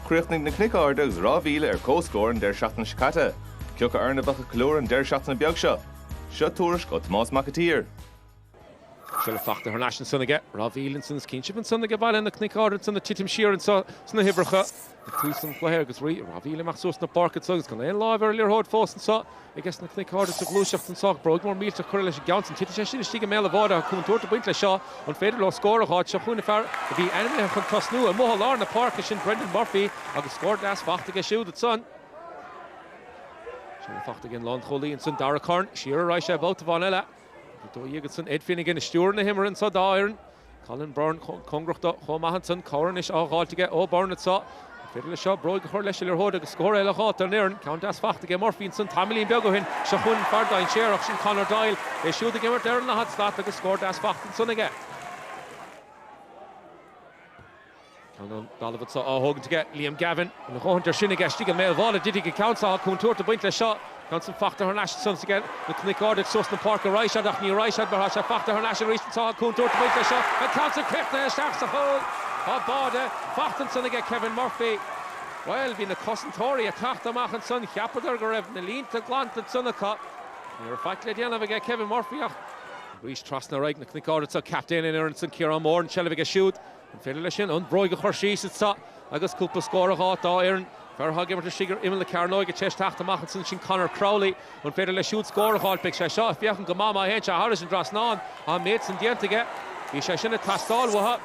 Chríochnaigh na Cnoic Arda agus Ráth Bhile ar comhscór an deireadh seachtaine seo caite. Ciocu ar a mbeadh an clú ar an deireadh seachtaine beag seo? Seo tuairisc ó Tomás Mac an tSaoir. Siúd fachta thar n-ais ansan aige Ráth Bhile ansan is cinnte ansan aige go bhfuil na Cnoic Arda ansan ag titim siar ansan sna huimhreacha. Ag tús an chluiche agus rith Ráth Bhile amach suas na páirce acu agus gan aon láimh ar an liathróid fós anseo aiges na Cnoic Arda sa ghluaiseacht anseo ach bróig mór millteach curtha leis an gceann sin. Titfidh sé sin istigh i mbéal an bháide agus contúirt ag baint leis seo. An féidir leo scór a dh'fháil seo chugainn an fear a bhí ainmnithe chun tosnú amuigh i lár na páirce sin Brendan Murphy agus scór deas faighte aige siúd ansan. Sin faighte ag an lánchúlaí ansan Darragh Curran. Siar a raghaidh sé babhta amháin eile. Ag dul ar aghaidh ansan Ed Finnegan ag stiúradh na himeartha anseo dá fhoireann. Colin Byrne cóngarach dó chomh maith ansan. Cabhair anois á dh'fháilt aige ó Byrne anseo. An féidir leis seo bróig a chur leis an liathróid agus scór eile a dh'fháilt don fhoireann? Ceann deas faighte aige Murphy ansan tamaillín beag ó shin. Seo chugainn fear dainséarach, sin Conor Doyle. É siúd ag imirt ar an daichead slat agus scór deas faighte ansan aige. Ceann ón dtalamh anseo á thógaint aige, Liam Gavin. A dhóthaint air sin aige istigh i mbéal an bháide a thitfidh an ceann so agus contúirt ag baint leis seo. Ceann san fachta thar n-ais san aiges na Cnoic Arda suas na páirc a raghaidh siad ach ní raghaidh siad mar thá sé fachta thar n-ais arís anseo contúirt ag baint leis seo. An ceann san críochnaithe isteach sa chúl. Tá báide fachta ansan aige Kevin Murphy. Bhuel bhí na cosantóirí ag teacht amach ansan cheapadar go raibh na línte glanta ansan acu. Ní raibh faic le déanamh aige Kevin Murphy ach. Arís trasna ar aghaidh na Cnoic Arda so captaen na foirne san Ciarán Moore an seilbh aige siúd. An féidir leis sin an bhróig a chur leis anseo agus cúpla scór a dh'fháilt dá fhoireann? Fear atá ag imirt istigh ar imeall na cearnóige tar éis teacht amach ansan. Sin Conor Crowley. An féidir leis siúd scór a ghabháilt? B'é seo ag féachaint go maith má théann sé thairis an trasnán. Tá an méid san déanta aige. Bhí sé sin ag teastáil uathu.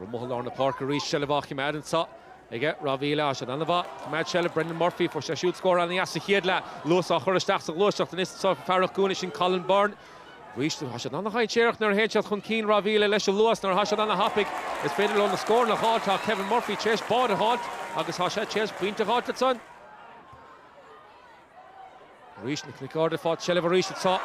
Amuigh i lár na páirce arís, seilbh á chimeád anseo aige Ráth Bhile. Tá siad ana-mhaith ag cimeád seilbh Brendan Murphy. Fuair sé siúd scór ana-dheas sa chéad leath. Luas á chur isteach sa ghluaiseacht anois anseo fear ag an gcúinne. Sin Colin Byrne. Arís, tá siad ana-dhainséarach nuair a théann siad chun cinn. Ráth Bhile leis an luas mar tá siad ana-thapaidh. Is féidir leo na scóranna a dh'fháil. Tá Kevin Murphy tar éis báide a dh'fháilt agus tá sé tar éis pointe a dh'fháilt ansan. Arís, na Cnoic Arda ag fáil seilbh arís. Anso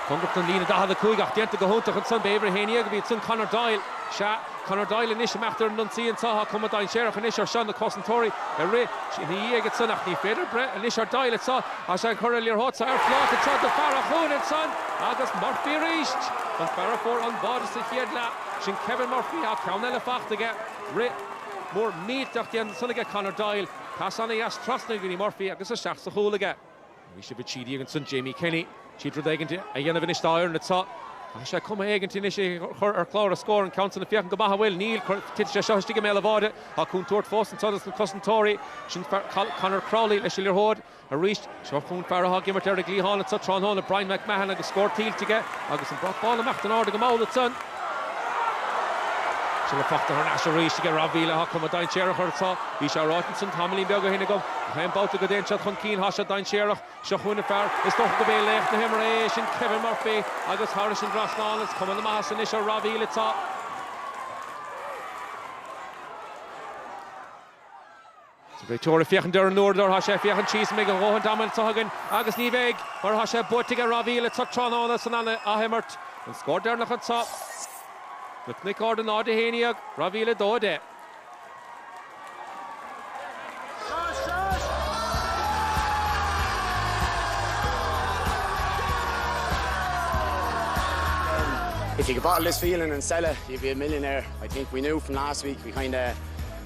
cóngarach don líne 45 ach déanta go hiontach ansan. B'é uimhir a haon dhéag a bhí ansan, Conor Doyle. Sea. Conor Doyle anois ag imeacht ar an ionsaí, ansan tá cuma dainséarach anois air seo na cosantóirí ag rith ina dhiaidh ansan ach ní féidir breith anois ar Doyle anso tá sé ag cur an liathróid so ar phláta anseo do fear atá chugainn ansan agus Murphy arís an fear a fuair an báide sa chéad leath, sin Kevin Murphy ach ceann eile faighte aige rith mór millteach déanta san aige Conor Doyle, pas ana dheas trasna go dtí Murphy agus isteach sa chúl aige. Bhí sé ag baint síneadh as ansan Jamie Kenny. D'iarraidh rud éigin a dhéanamh anois dá fhoireann anso. Tá sé chun am éigin anois é a chur ar chlár na scór an ceann san ag féachaint go maith an bhfuil. Níl. Titfidh sé seo istigh i mbéal an bháide. Tá contúirt fós anseo dos na cosantóirí. Sin Conor Crowley leis an liathróid. Arís seo chugainn fear atá ag imirt ar an gcliathán anseo tráthnóna, Brian McMahon agus scór tuillte aige agus an brat bán imithe in airde ag an maor ansan. Seo le Fachtna thar n-ais arís aige, Ráth Bhile ag cuma dainséarach arís. Bhí sé ráite ansin tamaillín beag ó shin agam, ach aon babhta go dtéann siad chun cinn, tá siad dainséarach. Seo chugainn an fear, is dócha gurb é laoch na himeartha é, sin Kevin Murphy, agus thairis an dtrasnán, is cuma na maitheasa anois ar Ráth Bhile atá. An réiteoir ag féachaint ar an uaireadóir, tá sé ag féachaint síos an mbeidh a dhóthaint ama anseo againn agus ní bheidh mar atá sé buaite aige Ráth Bhile anseo tráthnóna san athimirt. An scór deireanach anseo. Na Cnoic Arda 0, 11, Ráth Bhile 2, 10. If you could bottle this feeling and sell it, you'd be a millionaire. I think we knew from last week we kinda